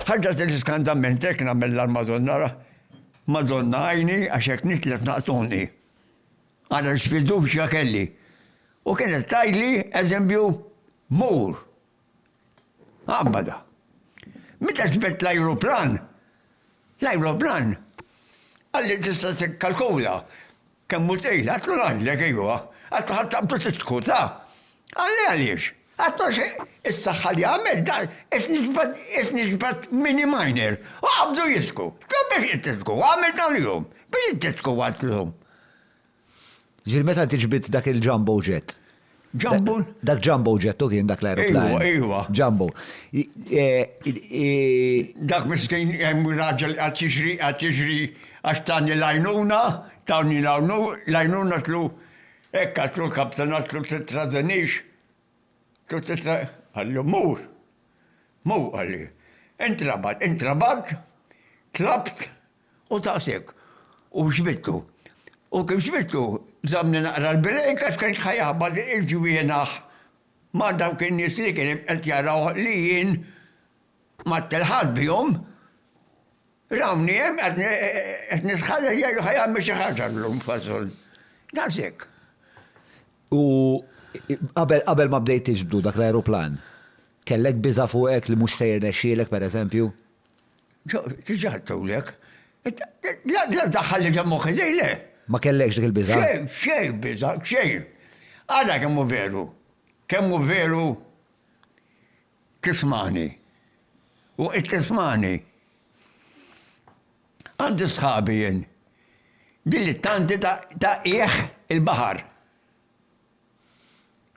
Ħaġa tiġi skandament hekk nagħmel l-Madonna ra. Madonna għajni għax hekk nitlef naqtuni. Għara x'fiduċja kelli. U kienet tajli eżempju mur. Għabbada. Meta ġbet l-ajruplan, l-ajruplan għalli tista' tikkalkula Kemm hu twil? Għatlu ngħidlek, ejwa. Għatlu ħa taqbdu tiskutha. Qalli għaliex? Għatlu għax is-saħħa li għamilt dan qed niġbed qed niġbed mini minor. U qabdu jidħku. Tlgħu biex int tidħku. Għamilt dan l-jum. Biex int tidħku għaltlhom. Ġifieri meta inti ġbidt dak il-jumbo jet? Jumbo? Dak Jumbo ġettu kien dak l-aeroplan. Iwa, iwa. Jumbo. Dak miskin hemm raġel għad jiġri, għad jiġri għax tani lajnuna, tani lajnuna tlu hekk għatlu l-kapten għatlu titradenix. Tlu titra. Għallu mur. Mur għalli. Intrabat, intrabat, tlabt, U daqshekk. U ġbidtu. U kif ġbidtu, żammni naqra l-break għax kien ħa jaħbat il-ġwienaħ ma' dawk in-nies li kien qed jaraw li jien ma ttelħaqt bihom. Rawni hemm qed nitħalleġ jgħidu ħa jagħmel xi ħaġa llum f'għasol. Daqshekk. U qabel ma bdejt tiġbdu dak l-ajruplan, kellek biża' fuqek li mhux se jirnexxielek, pereżempju? Diġà għattewlek. La daħħal li ġemmu ħizej, le. Ma kellekx dik il-biża? Xejn, xejn biża, xejn. Ara kemm hu veru. Kemm hu veru tismani. U qed tismani. Għandi sħabi jien. Din it-tanti ta' qiegħ il-baħar.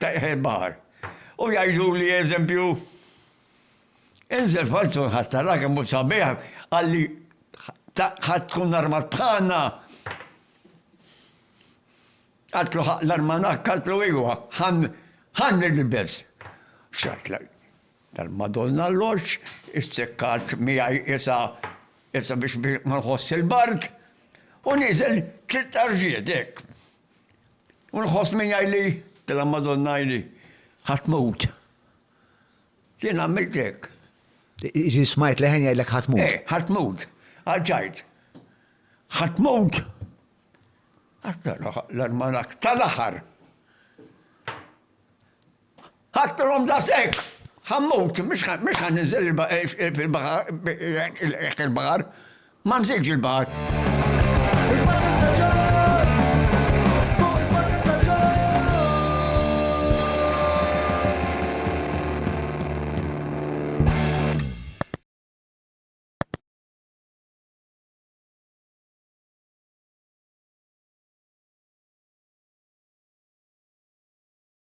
ta' iħel baħar. U jgħiduli, eżempju, Inżel f'għajtu l-ħadd ara kemm hu sabiħ, qalli ħadd tkun armat bħalna. Għadtlu ħaq l-armanak, għadtlu iwa, ħan il-bibers. Xat tal-Madonna l-loċ, issekkat miegħi isa isa biex ma nħoss il-bard, u nizel tlitt arġiet hekk. U nħoss min jgħidli, tela l-Madonna jgħidli, ħa tmut. Jien għamilt hekk. Ġi smajt leħen jgħidlek ħa tmut. Eh, ħa tmut. Għalġajt. Ħa tmut. Għatta l-armanak tal-aħar. Ħadthom daqshekk! Ħa mmut, mhux ħa ninżel fil-baħar, jekk il-baħar. Ma nżilx il-baħar.